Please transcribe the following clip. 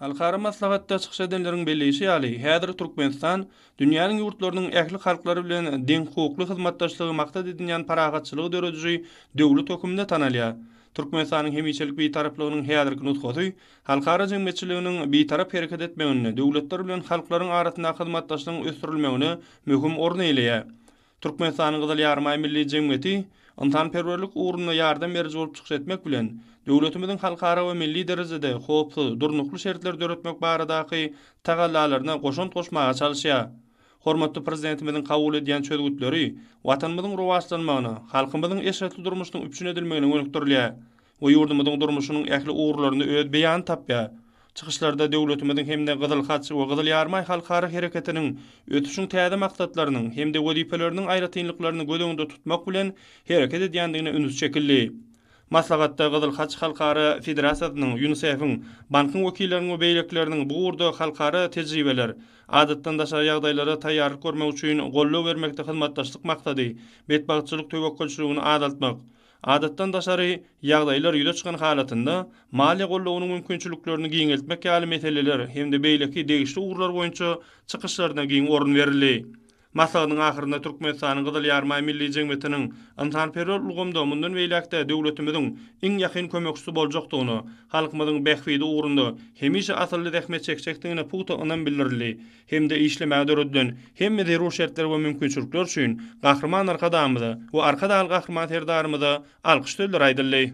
Halkara maslahatda çykyş edenleriň belleýşi ýaly, häzir Türkmenistan dünýäniň ýurtlarynyň ähli halklary bilen deňhukukly hyzmatdaşlygy maksat edinýän parahatçylygy dörediji döwlet hökmünde tanalýar. Türkmenistanyň hemişelik Bitaraplygynyň häzirki nusgasy halkara jemgyýetçiliginiň bitarap hereket etmeginde döwletler bilen halklaryň arasyndaky hyzmatdaşlygyň ösdürilmegine möhüm orun eýeleýär. Türkmenistanyň Gyzyl Ýarymaý Milli jemgyýeti ynsanperwerlik ugrunda ýardam beriji bolup çykyş etmek bilen, döwletimiziň halkara we milli derejede howpsuz, durnukly şertler döretmek baradaky tagallalaryna goşant goşmaga çalyşýar. Hormatly Prezidentimiziň kabul edýän çözgütleri Watanymyzyň rowaçlanmagyna, halkymyzyň eşretli durmuşynyň üpjün edilmegine gönükdirilýär. we ýurdumyzyň durmuşynyň ähli ugurlarynda öz beýanyny tapýar. Çykyşlarda döwletimiziň hem-de Gyzyl Haç we Gyzyl Ýarymaý Halkara Hereketiniň ösüşiň täze maksatlarynyň hem-de wezipeleriniň aýratynlyklaryny göz öňünde tutmak bilen hereket edýändigine üns çekildi. Maslahatda Gyzyl Haç Halkara Federasiýasynyň, Ýunisef-iň, Bankyň wekilleriniň we beýlekileriniň bu ugurda halkara tejribeler, adatdan daşary ýagdaýlara taýýarlyk görmek üçin goldaw bermekde hyzmatdaşlyk maksady, betbagtçylyk töwekgelçiligini azaltmak, Adatdan daşary ýagdaýlar ýüze çykan halatynda, maliýe goldawynyň mümkinçiliklerini giňeltmek ýaly meseleler hem-de beýleki degişli ugurlar boýunça çykyşlaryna giň orun berildi. Maslahatyň ahyrynda Türkmenistanyň Gyzyl Ýarymaý Milli jemgyýetiniň ynsanperwer ulgamda mundan beýläk-de döwletimiziň iň ýakyn kömekçisi boljakdygyna, halkymyzyň bähbidi ugrunda hemişe asylly zähmet çekjekdigine pugta ynam bildirildi. hem-de işlemäge döredilen hemme zerur şertler we mümkinçilikler üçin Gahryman Arkadagymyza we Arkadagly Gahryman Serdarymyza alkyş sözleri aýdyldy.